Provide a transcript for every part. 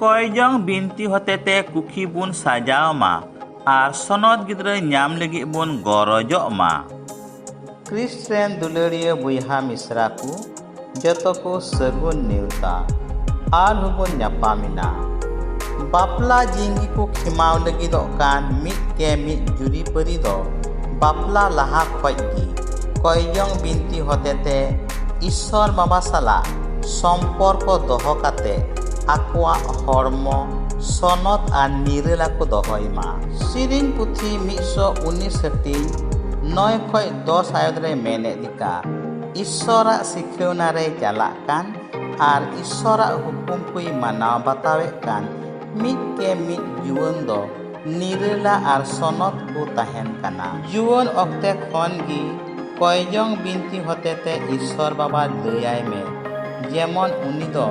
ᱠᱚᱭᱡᱚᱝ ᱵᱤᱱᱛᱤ ᱦᱚᱛᱮᱛᱮ ᱠᱩᱠᱷᱤ ᱵᱚᱱ ᱥᱟᱡᱟᱣ ᱢᱟ ᱟᱨ ᱥᱚᱱᱚᱛ ᱜᱤᱫᱽᱨᱟᱹ ᱧᱟᱢ ᱞᱟᱹᱜᱤᱫ ᱵᱚᱱ ᱜᱚᱨᱚᱡᱚᱜ ᱢᱟ ᱠᱨᱤᱥᱴ ᱨᱮᱱ ᱫᱩᱞᱟᱹᱲᱤᱭᱟᱹ ᱵᱚᱭᱦᱟ ᱢᱤᱥᱨᱟ ᱠᱚ ᱡᱚᱛᱚ ᱠᱚ ᱥᱟᱹᱜᱩᱱ ᱱᱮᱣᱛᱟ ᱟᱨ ᱦᱚᱸᱵᱚᱱ ᱧᱟᱯᱟᱢᱮᱱᱟ ᱵᱟᱯᱞᱟ ᱡᱤᱝᱜᱤ ᱠᱚ ᱠᱷᱮᱢᱟᱣ ᱞᱟᱹᱜᱤᱫᱚᱜ ᱠᱟᱱ ᱢᱤᱫ ᱠᱮ ᱢᱤᱫ ᱡᱩᱨᱤᱯᱟᱹᱨᱤ ᱫᱚ ᱵᱟᱯᱞᱟ ᱞᱟᱦᱟ ᱠᱷᱚᱡ ᱜᱮ ᱠᱚᱭᱡᱚᱝ ᱵᱤᱱᱛᱤ ᱦᱚᱛᱮᱛᱮ ᱤᱥᱥᱚᱨ ᱵᱟᱵᱟ ᱥᱟᱞᱟᱜ ᱥᱚᱢᱯᱚᱨᱠᱚ ᱫᱚᱦᱚ ᱠᱟᱛᱮ ᱟᱠᱚᱣᱟᱜ ᱦᱚᱲᱢᱚ ᱥᱚᱱᱚᱛ ᱟᱨ ᱱᱤᱨᱟᱹᱞᱟ ᱠᱚ ᱫᱚᱦᱚᱭ ᱢᱟ ᱥᱮᱨᱮᱧ ᱯᱩᱛᱷᱤ ᱢᱤᱫ ᱥᱚ ᱩᱱᱤᱥ ᱦᱟᱹᱴᱤᱧ ᱱᱚᱭ ᱠᱷᱚᱡ ᱫᱚᱥ ᱟᱭᱚᱛ ᱨᱮ ᱢᱮᱱᱮᱫ ᱞᱮᱠᱟ ᱤᱥᱥᱚᱨᱟᱜ ᱥᱤᱠᱷᱟᱹᱣᱱᱟ ᱨᱮ ᱪᱟᱞᱟᱜ ᱠᱟᱱ ᱟᱨ ᱤᱥᱥᱚᱨᱟᱜ ᱦᱩᱠᱩᱢ ᱠᱚᱭ ᱢᱟᱱᱟᱣ ᱵᱟᱛᱟᱣᱮᱫ ᱠᱟᱱ ᱢᱤᱫ ᱜᱮ ᱢᱤᱫ ᱡᱩᱣᱟᱹᱱ ᱫᱚ ᱱᱤᱨᱟᱹᱞᱟ ᱟᱨ ᱥᱚᱱᱚᱛ ᱠᱚ ᱛᱟᱦᱮᱱ ᱠᱟᱱᱟ᱾ ᱡᱩᱣᱟᱹᱱ ᱚᱠᱛᱮ ᱠᱷᱚᱱ ᱜᱮ ᱠᱚᱭᱡᱚᱝ ᱵᱤᱱᱛᱤ ᱦᱚᱛᱮᱛᱮ ᱤᱥᱥᱚᱨ ᱵᱟᱵᱟ ᱞᱟᱹᱭ ᱟᱭ ᱢᱮ ᱡᱮᱢᱚᱱ ᱩᱱᱤ ᱫᱚ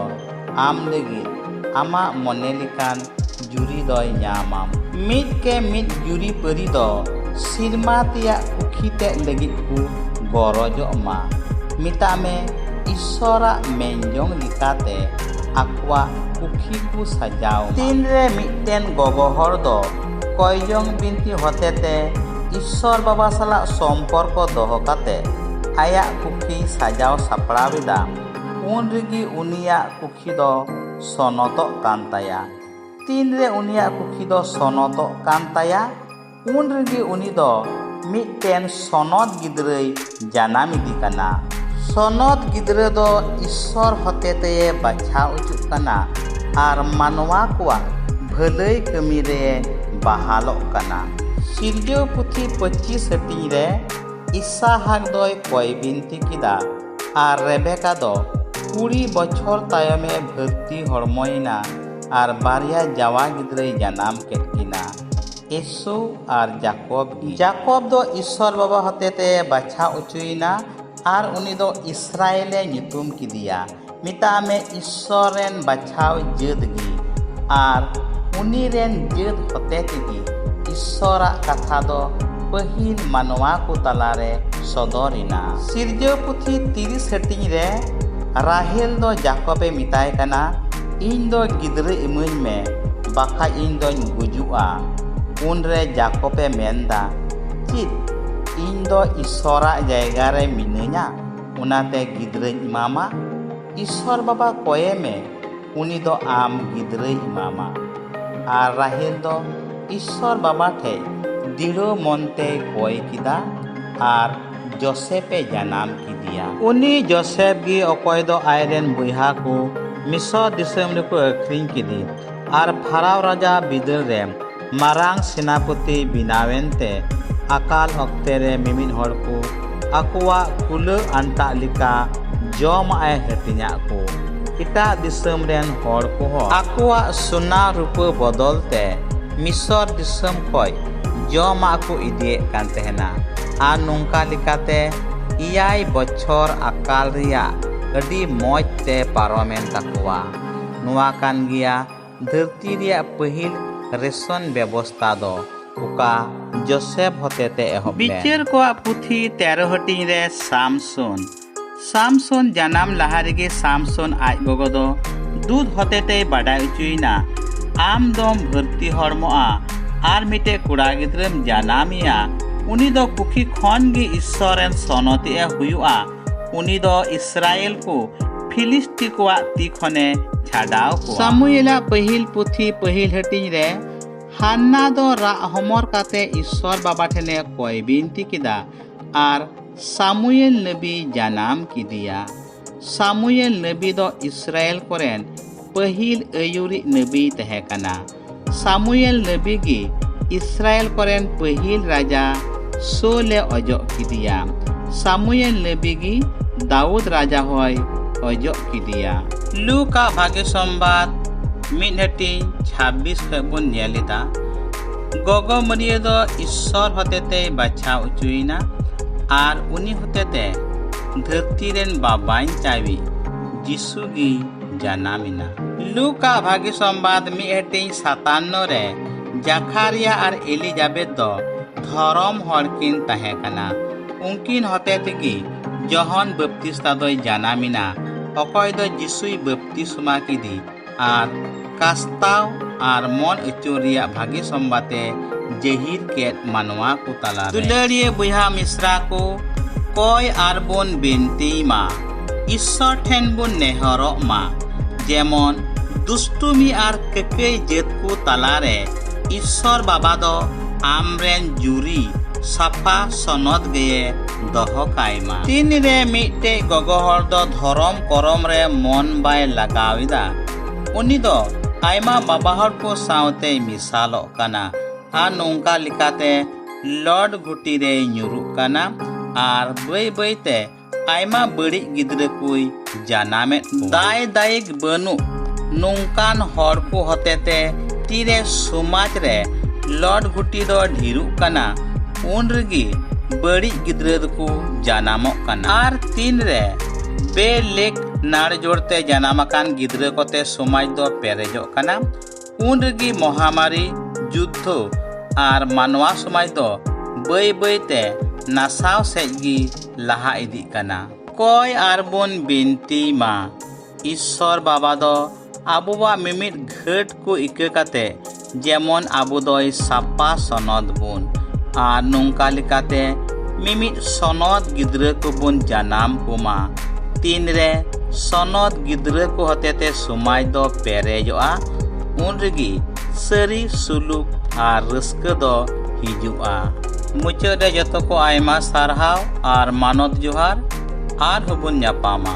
ᱟᱢ ᱞᱟᱹᱜᱤᱫ ᱟᱢᱟᱜ ᱢᱚᱱᱮ ᱞᱮᱠᱟᱱ ᱡᱩᱨᱤ ᱫᱚᱭ ᱧᱟᱢᱟᱢ᱾ ᱢᱤᱫ ᱠᱮ ᱢᱤᱫ ᱡᱩᱨᱤᱯᱟᱹᱨᱤ ᱫᱚ ᱥᱤᱨᱢᱟ ᱛᱮᱭᱟᱜ ᱠᱩᱠᱷᱤ ᱛᱮᱫ ᱞᱟᱹᱜᱤᱫ ᱠᱚ ᱜᱚᱨᱚᱡᱚᱜ ᱢᱟ᱾ ᱢᱮᱛᱟᱜ ᱢᱮ ᱤᱥᱥᱚᱨᱟᱜ ᱢᱮᱱᱡᱚᱝ ᱞᱮᱠᱟᱛᱮ᱾ ᱟᱠᱚᱣᱟᱜ ᱯᱩᱠᱷᱤ ᱠᱚ ᱥᱟᱡᱟᱣ ᱢᱟ᱾ ᱛᱤᱱ ᱨᱮ ᱢᱤᱫᱴᱮᱱ ᱜᱚᱜᱚ ᱦᱚᱲ ᱫᱚ ᱠᱚᱭᱡᱚᱝ ᱵᱤᱱᱛᱤ ᱦᱚᱛᱮᱛᱮ ᱤᱥᱥᱚᱨ ᱵᱟᱵᱟ ᱥᱟᱞᱟᱜ ᱥᱚᱢᱯᱚᱨᱠᱚ ᱫᱚᱦᱚ ᱠᱟᱛᱮ ᱟᱭᱟᱜ ᱯᱩᱠᱷᱤᱭ ᱥᱟᱡᱟᱣ ᱥᱟᱯᱲᱟᱣ ᱮᱫᱟ, ᱩᱱ ᱨᱮᱜᱮ ᱩᱱᱤᱭᱟᱜ ᱯᱩᱠᱷᱤ ᱫᱚ ᱥᱚᱱᱚᱛᱚᱜ ᱠᱟᱱ ᱛᱟᱭᱟ᱾ ᱛᱤᱱ ᱨᱮ ᱩᱱᱤᱭᱟᱜ ᱯᱩᱠᱷᱤ ᱫᱚ ᱥᱚᱱᱚᱛᱚᱜ ᱠᱟᱱ ᱛᱟᱭᱟ? ᱩᱱ ᱨᱮᱜᱮ ᱩᱱᱤ ᱫᱚ ᱢᱤᱫᱴᱮᱱ ᱥᱚᱱᱚᱛ ᱜᱤᱫᱽᱨᱟᱹᱭ ᱡᱟᱱᱟᱢ ᱤᱫᱤ ᱠᱟᱱᱟ ᱥᱚᱱᱚᱛ ᱜᱤᱫᱽᱨᱟᱹ ᱫᱚ ᱤᱥᱥᱚᱨ ᱦᱚᱛᱮᱛᱮ ᱵᱟᱪᱷᱟᱣ ᱚᱪᱚᱜ ᱠᱟᱱᱟ ᱟᱨ ᱢᱟᱱᱣᱟ ᱠᱚᱣᱟᱜ ᱵᱷᱟᱹᱞᱟᱹᱭ ᱠᱟᱹᱢᱤ ᱨᱮ ᱵᱟᱦᱟᱞᱚᱜ ᱠᱟᱱᱟ ᱥᱤᱨᱡᱟᱹᱣ ᱯᱩᱛᱷᱤ ᱯᱚᱸᱪᱤᱥ ᱦᱟᱹᱴᱤᱧ ᱨᱮ ᱤᱥᱟᱦᱟᱠ ᱫᱚᱭ ᱠᱚᱭ ᱵᱤᱱᱛᱤ ᱠᱮᱫᱟ ᱟᱨ ᱨᱮᱵᱮᱠᱟ ᱫᱚ ᱠᱩᱲᱤ ᱵᱚᱪᱷᱚᱨ ᱛᱟᱭᱚᱢᱮ ᱵᱷᱟᱹᱨᱛᱤ ᱦᱚᱲᱢᱚᱭᱮᱱᱟ ᱟᱨ ᱵᱟᱨᱭᱟ ᱡᱟᱶᱟ ᱜᱤᱫᱽᱨᱟᱹᱭ ᱡᱟᱱᱟᱢ ᱠᱮᱫ ᱠᱤᱱᱟ ᱤᱥᱩ ᱟᱨ ᱡᱟᱠᱚᱵ ᱜᱮ ᱡᱟᱠᱚᱵ ᱫᱚ ᱤᱥᱚᱨ ᱵᱟᱵᱟ ᱦᱚᱛᱮᱛᱮ ᱵᱟᱪᱷᱟ ᱚᱪᱚᱭᱮᱱᱟ ᱟᱨ ᱩᱱᱤ ᱫᱚ ᱤᱥᱨᱟᱭᱮᱞᱮ ᱧᱩᱛᱩᱢ ᱠᱮᱫᱮᱭᱟ ᱢᱮᱛᱟᱜ ᱢᱮ ᱤᱥᱚᱨ ᱨᱮᱱ ᱵᱟᱪᱷᱟᱣ ᱡᱟᱹᱛ ᱜᱮ ᱟᱨ ᱩᱱᱤ ᱨᱮᱱ ᱡᱟᱹᱛ ᱦᱚᱛᱮᱛᱮ ᱜᱮ ᱤᱥᱚᱨᱟᱜ ᱠᱟᱛᱷᱟ ᱫᱚ ᱯᱟᱹᱦᱤᱞ ᱢᱟᱱᱣᱟ ᱠᱚ ᱛᱟᱞᱟᱨᱮ ᱥᱚᱫᱚᱨ ᱮᱱᱟ ᱥᱤᱨᱡᱟᱹᱣ ᱯᱩᱛᱷᱤ ᱛᱤᱨᱤᱥ ᱦᱟᱹᱴᱤᱧ ᱨᱮ ᱨᱟᱦᱮᱞ ᱫᱚ ᱡᱟᱠᱚᱵᱮ ᱢᱮᱛᱟᱭ ᱠᱟᱱᱟ ᱤᱧ ᱫᱚ ᱜᱤᱫᱽᱨᱟᱹ ᱤᱢᱟᱹᱧ ᱢᱮ ᱵᱟᱠᱷᱟᱡ ᱤᱧ ᱫᱚᱧ ᱜᱩᱡᱩᱜᱼᱟ᱾ ᱩᱱ ᱨᱮ ᱡᱟᱠᱚᱵᱽ ᱮ ᱢᱮᱱ ᱫᱟ, ᱪᱤᱫ ᱤᱧ ᱫᱚ ᱤᱥᱥᱚᱨ ᱟᱜ ᱡᱟᱭᱜᱟ ᱨᱮ ᱢᱤᱱᱟᱹᱧᱟ ᱚᱱᱟᱛᱮ ᱜᱤᱫᱽᱨᱟᱹᱧ ᱮᱢᱟᱢᱟ? ᱤᱥᱥᱚᱨ ᱵᱟᱵᱟ ᱠᱚᱭᱮ ᱢᱮ ᱩᱱᱤ ᱫᱚ ᱟᱢ ᱜᱤᱫᱽᱨᱟᱹᱭ ᱮᱢᱟᱢᱟ᱾ ᱟᱨ ᱨᱟᱦᱮᱞ ᱫᱚ ᱤᱥᱥᱚᱨ ᱵᱟᱵᱟ ᱴᱷᱮᱡ ᱫᱤᱲᱟᱹᱣ ᱢᱚᱱ ᱛᱮᱭ ᱠᱚᱭ ᱠᱮᱫᱟ ᱟᱨ ᱡᱚᱥᱮᱯ ᱮ ᱡᱟᱱᱟᱢ ᱠᱮᱫᱮᱭᱟ ᱩᱱᱤ ᱡᱚᱥᱮᱯ ᱜᱮ ᱚᱠᱚᱭ ᱫᱚ ᱟᱡ ᱨᱮᱱ ᱵᱚᱭᱦᱟ ᱠᱚ ᱢᱤᱥᱚᱨ ᱫᱤᱥᱚᱢ ᱨᱮᱠᱚ ᱟᱹᱠᱷᱨᱤᱧ ᱠᱮᱫᱮ ᱟᱨ ᱯᱷᱟᱨᱟᱣ ᱨᱟᱡᱟ ᱵᱤᱫᱟᱹᱞ ᱨᱮ ᱢᱟᱨᱟᱝ ᱥᱮᱱᱟᱯᱚᱛᱤ ᱵᱮᱱᱟᱣᱮᱱ ᱛᱮ ᱟᱠᱟᱞ ᱚᱠᱛᱮ ᱨᱮ ᱢᱤᱢᱤᱫ ᱦᱚᱲ ᱠᱚ ᱟᱠᱚᱣᱟᱜ ᱠᱩᱞᱟᱹ ᱟᱱᱴᱟᱜ ᱞᱮᱠᱟ ᱡᱚᱢᱟᱜ ᱮ ᱦᱟᱹᱴᱤᱧᱟᱜ ᱠᱚ ᱮᱴᱟᱜ ᱫᱤᱥᱚᱢ ᱨᱮᱱ ᱦᱚᱲ ᱠᱚᱦᱚᱸ ᱟᱠᱚᱣᱟᱜ ᱥᱚᱱᱟ ᱨᱩᱯᱟᱹ ᱵᱚᱫᱚᱞ ᱛᱮ ᱢᱤᱥᱚᱨ ᱫᱤᱥᱚᱢ ᱠᱷᱚᱱ ᱡᱚᱢᱟᱜ ᱠᱚ ᱤᱫᱤᱭᱮᱫ ᱠᱟᱱ ᱛᱟᱦᱮᱱᱟ ᱟᱨ ᱱᱚᱝᱠᱟ ᱞᱮᱠᱟᱛᱮ ᱮᱭᱟᱭ ᱵᱚᱪᱷᱚᱨ ᱟᱠᱟᱞ ᱨᱮᱭᱟᱜ ᱟᱹᱰᱤ ᱢᱚᱡᱽ ᱛᱮ ᱯᱟᱨᱚᱢᱮᱱ ᱛᱟᱠᱚᱣᱟ᱾ ᱱᱚᱣᱟ ᱠᱟᱱ ᱜᱮᱭᱟ ᱫᱷᱟᱹᱨᱛᱤ ᱨᱮᱭᱟᱜ ᱯᱟᱹᱦᱤᱞ ᱨᱮᱥᱚᱱ ᱵᱮᱵᱚᱥᱛᱟ ᱫᱚ, ᱚᱠᱟ ᱡᱳᱥᱮᱯᱷ ᱦᱚᱛᱮᱛᱮ ᱮᱦᱚᱵ ᱞᱮᱱ᱾ ᱵᱤᱪᱟᱹᱨ ᱠᱚᱣᱟᱜ ᱯᱩᱛᱷᱤ ᱛᱮᱨᱚ ᱦᱟᱹᱴᱤᱧ ᱨᱮ ᱥᱟᱢᱥᱚᱱ᱾ ᱥᱟᱢᱥᱚᱱ ᱡᱟᱱᱟᱢ ᱞᱟᱦᱟ ᱨᱮᱜᱮ ᱥᱟᱢᱥᱚᱱ ᱟᱡ ᱜᱚᱜᱚ ᱫᱚ ᱫᱩᱫ ᱦᱚᱛᱮᱛᱮᱭ ᱵᱟᱰᱟᱭ ᱚᱪᱚᱭᱮᱱᱟ ᱟᱢ ᱫᱚᱢ ᱵᱷᱟᱹᱨᱛᱤ ᱦᱚᱲᱢᱚᱜᱼᱟ ᱟᱨ ᱢᱤᱫᱴᱮᱡ ᱠᱚᱲᱟ ᱜᱤᱫᱽᱨᱟᱹᱢ ᱡᱟᱱᱟᱢᱮᱭᱟ ᱩᱱᱤ ᱫᱚ ᱠᱩᱠᱷᱤ ᱠᱷᱚᱱ ᱜᱮ ᱤᱥᱥᱚᱨ ᱨᱮᱱ ᱥᱚᱱᱚᱛᱤ ᱮ ᱦᱩᱭᱩᱜᱼᱟ ᱩᱱᱤ ᱫᱚ ᱤᱥᱨᱟᱭᱮᱞ ᱠᱚ ᱯᱷᱤᱞᱤᱥᱴᱤ ᱠᱚᱣᱟᱜ ᱛᱤ ᱠᱷᱚᱱᱮ ᱪᱷᱟᱰᱟᱣ ᱠᱚᱣᱟ ᱥᱟᱢᱩᱭᱮᱞᱟᱜ ᱯᱟᱹᱦᱤᱞ ᱯᱩᱛᱷᱤ ᱯᱟᱹᱦᱤᱞ ᱦᱟᱹᱴᱤᱧ ᱨᱮ ᱦᱟᱱᱱᱟ ᱫᱚ ᱨᱟᱜ ᱦᱚᱢᱚᱨ ᱠᱟᱛᱮ ᱤᱥᱥᱚᱨ ᱵᱟᱵᱟ ᱴᱷᱮᱱᱮ ᱠᱚᱭ ᱵᱤᱱᱛᱤ ᱠᱮᱫᱟ ᱟᱨ ᱥᱟᱢᱩᱭᱮᱞ ᱱᱟᱹᱵᱤ ᱡᱟᱱᱟᱢ ᱠᱤᱫᱤᱭᱟ ᱥᱟᱢᱩᱭᱮᱞ ᱱᱟᱹᱵᱤ ᱫᱚ ᱤᱥᱨᱟᱭᱮᱞ ᱠᱚᱨᱮᱱ ᱯᱟᱹᱦᱤᱞ ᱟᱹᱭᱩᱨᱤᱡ ᱱᱟᱹᱵᱤᱭ ᱛᱟᱦᱮᱸ ᱠᱟᱱᱟ ᱥᱟᱢᱩᱭᱮᱞ ᱱᱟᱹᱵᱤ ᱜᱮ ᱤᱥᱨᱟᱭᱮᱞ ᱠᱚᱨᱮᱱ ᱯᱟᱹᱦᱤᱞ ᱨᱟᱡᱟ ᱥᱳᱞᱮ ᱚᱡᱚᱜ ᱠᱤᱫᱤᱭᱟ ᱥᱟᱢᱩᱭᱮᱞ ᱱᱟᱹᱵᱤ ᱜᱮ ᱫᱟᱣᱩᱫ ᱨᱟᱡᱟ ᱦᱚᱭ ᱚᱡᱚᱜ ᱠᱤᱫᱤᱭᱟ ᱞᱩᱠᱟ ᱵᱷᱟᱜᱮ ᱥᱚᱢᱵᱟᱫ ᱢᱤᱫ ᱦᱟᱹᱴᱤᱧ ᱪᱷᱟᱵᱵᱤᱥ ᱠᱷᱚᱱ ᱵᱚᱱ ᱧᱮᱞ ᱮᱫᱟ ᱜᱚᱜᱚ ᱢᱟᱹᱨᱤᱭᱟᱹ ᱫᱚ ᱤᱥᱥᱚᱨ ᱦᱚᱛᱮᱛᱮ ᱵᱟᱪᱷᱟᱣ ᱚᱪᱚᱭᱮᱱᱟ ᱟᱨ ᱩᱱᱤ ᱦᱚᱛᱮᱛᱮ ᱫᱷᱟᱹᱨᱛᱤ ᱨᱮᱱ ᱵᱟᱵᱟᱧ ᱪᱟᱣᱤ ᱡᱤᱥᱩ ᱜᱮ ᱡᱟᱱᱟᱢᱮᱱᱟ ᱞᱩᱠᱟ ᱵᱷᱟᱜᱤ ᱥᱚᱢᱵᱟᱫ ᱢᱤᱫ ᱦᱟᱹᱴᱤᱧ ᱥᱟᱛᱟᱱᱱᱚ ᱨᱮ ᱡᱟᱠᱷᱟᱨᱤᱭᱟ ᱟᱨ ᱮᱞᱤᱡᱟᱵᱮᱛ ᱫᱚ ᱫᱷᱚᱨᱚᱢ ᱦᱚᱲ ᱠᱤᱱ ᱛᱟᱦᱮᱸ ᱠᱟᱱᱟ ᱩᱱᱠᱤᱱ ᱦᱚᱛᱮ ᱛᱮᱜᱮ ᱡᱚᱦᱚᱱ ᱵᱟᱯᱛᱤᱥᱛᱟ ᱫᱚᱭ ᱡᱟᱱᱟᱢᱮᱱᱟ ᱚᱠᱚᱭ ᱫᱚ ᱡᱤᱥᱩᱭ ᱵᱟᱯᱛᱤᱥᱢᱟ ᱠᱮᱫᱮ ᱟᱨ ᱠᱟᱥᱛᱟᱣ ᱟᱨ ᱢᱚᱱ ᱟᱹᱪᱩᱨ ᱨᱮᱭᱟᱜ ᱵᱷᱟᱜᱮ ᱥᱚᱢᱵᱟᱛᱮ ᱡᱮᱦᱤᱨ ᱠᱮᱫ ᱢᱟᱱᱣᱟ ᱠᱚ ᱛᱟᱞᱟ ᱫᱩᱞᱟᱹᱲᱤᱭᱟᱹ ᱵᱚᱭᱦᱟ ᱢᱤᱥᱨᱟ ᱠᱚ ᱠᱚᱭ ᱟᱨ ᱵᱚᱱ ᱵᱤᱱᱛᱤᱭ ᱢᱟ ᱤᱥᱥᱚᱨ ᱴᱷᱮᱱ ᱵᱚᱱ ᱱᱮᱦᱚᱨᱚᱜ ᱢᱟ ᱡᱮᱢᱚᱱ ᱫᱩᱥᱴᱩᱢᱤ ᱟᱨ ᱠᱟᱹᱠᱟᱹᱭ ᱡᱟᱹᱛ ᱠᱚ ᱛᱟᱞᱟᱨᱮ ᱤᱥᱥᱚᱨ ᱵᱟᱵᱟ ᱫᱚ ᱟᱢᱨᱮᱱ ᱡᱩᱨᱤ ᱥᱟᱯᱷᱟ ᱥᱚᱱᱚᱛ ᱜᱮᱭᱮ ᱫᱚᱦᱚ ᱠᱟᱭ ᱢᱟ ᱛᱤᱱᱨᱮ ᱢᱤᱫᱴᱮᱡ ᱜᱚᱜᱚ ᱦᱚᱲ ᱫᱚ ᱫᱷᱚᱨᱚᱢ ᱠᱚᱨᱚᱢ ᱨᱮ ᱢᱚᱱ ᱵᱟᱭ ᱞᱟᱜᱟᱣ ᱮᱫᱟ ᱩᱱᱤ ᱫᱚ ᱟᱭᱢᱟ ᱵᱟᱵᱟ ᱦᱚᱲ ᱠᱚ ᱥᱟᱶᱛᱮᱭ ᱢᱮᱥᱟᱞᱚᱜ ᱠᱟᱱᱟ ᱟᱨ ᱱᱚᱝᱠᱟ ᱞᱮᱠᱟᱛᱮ ᱞᱚᱰ ᱜᱷᱩᱴᱤ ᱨᱮᱭ ᱧᱩᱨᱩᱜ ᱠᱟᱱᱟ ᱟᱨ ᱵᱟᱹᱭ ᱵᱟᱹᱭᱛᱮ ᱟᱭᱢᱟ ᱵᱟᱹᱲᱤᱡ ᱜᱤᱫᱽᱨᱟᱹ ᱠᱚᱭ ᱡᱟᱱᱟᱢᱮᱫ ᱫᱟᱭ ᱫᱟᱭᱤᱠ ᱵᱟᱹᱱᱩᱜ ᱱᱚᱝᱠᱟᱱ ᱦᱚᱲ ᱠᱚ ᱦᱚᱛᱮᱛᱮ ᱛᱤᱨᱮ ᱥᱚᱢᱟᱡᱽ ᱨᱮ ᱞᱚᱰ ᱜᱷᱩᱴᱤ ᱫᱚ ᱰᱷᱮᱨᱚᱜ ᱠᱟᱱᱟ ᱩᱱ ᱨᱮᱜᱮ ᱵᱟᱹᱲᱤᱡ ᱜᱤᱫᱽᱨᱟᱹ ᱫᱚᱠᱚ ᱡᱟᱱᱟᱢᱚᱜ ᱠᱟᱱᱟ ᱟᱨ ᱛᱤᱱ ᱨᱮ ᱵᱮᱞᱮᱠ ᱱᱟᱲ ᱡᱳᱲᱛᱮ ᱡᱟᱱᱟᱢ ᱟᱠᱟᱱ ᱜᱤᱫᱽᱨᱟᱹ ᱠᱚᱛᱮ ᱥᱚᱢᱟᱡᱽ ᱫᱚ ᱯᱮᱨᱮᱡᱚᱜ ᱠᱟᱱᱟ ᱩᱱ ᱨᱮᱜᱮ ᱢᱚᱦᱟᱢᱟᱨᱤ ᱡᱩᱫᱽᱫᱷᱚ ᱟᱨ ᱢᱟᱱᱣᱟ ᱥᱚᱢᱟᱡᱽ ᱫᱚ ᱵᱟᱹᱭ ᱵᱟᱹᱭᱛᱮ ᱱᱟᱥᱟᱣ ᱥᱮᱡ ᱜᱮ ᱞᱟᱦᱟ ᱤᱫᱤᱜ ᱠᱟᱱᱟ ᱠᱚᱭ ᱟᱨ ᱵᱚᱱ ᱵᱤᱱᱛᱤ ᱢᱟ ᱤᱥᱥᱚᱨ ᱵᱟᱵᱟ ᱫᱚ ᱟᱵᱚᱣᱟᱜ ᱢᱤᱢᱤᱫ ᱜᱷᱟᱹᱴ ᱠᱚ ᱤᱠᱟᱹ ᱠᱟᱛᱮ ᱡᱮᱢᱚᱱ ᱟᱵᱚ ᱫᱚᱭ ᱥᱟᱯᱟ ᱥᱚᱱᱚᱛ ᱵᱚᱱ ᱟᱨ ᱱᱚᱝᱠᱟ ᱞᱮᱠᱟᱛᱮ ᱢᱤᱢᱤᱫ ᱥᱚᱱᱚᱛ ᱜᱤᱫᱽᱨᱟᱹ ᱠᱚᱵᱚᱱ ᱡᱟᱱᱟᱢ ᱠᱚᱢᱟ ᱛᱤᱱᱨᱮ ᱥᱚᱱᱚᱛ ᱜᱤᱫᱽᱨᱟᱹ ᱠᱚ ᱦᱚᱛᱮᱛᱮ ᱥᱚᱢᱟᱡᱽ ᱫᱚ ᱯᱮᱨᱮᱡᱚᱜᱼᱟ ᱩᱱ ᱨᱮᱜᱮ ᱥᱟᱹᱨᱤ ᱥᱩᱞᱩᱠ ᱟᱨ ᱨᱟᱹᱥᱠᱟᱹ ᱫᱚ ᱦᱤᱡᱩᱜᱼᱟ ᱢᱩᱪᱟᱹᱫ ᱨᱮ ᱡᱚᱛᱚ ᱠᱚ ᱟᱭᱢᱟ ᱥᱟᱨᱦᱟᱣ ᱟᱨ ᱢᱟᱱᱚᱛ ᱡᱚᱦᱟᱨ ᱟᱨᱦᱚᱸ ᱵᱚᱱ ᱧᱟᱯᱟᱢᱟ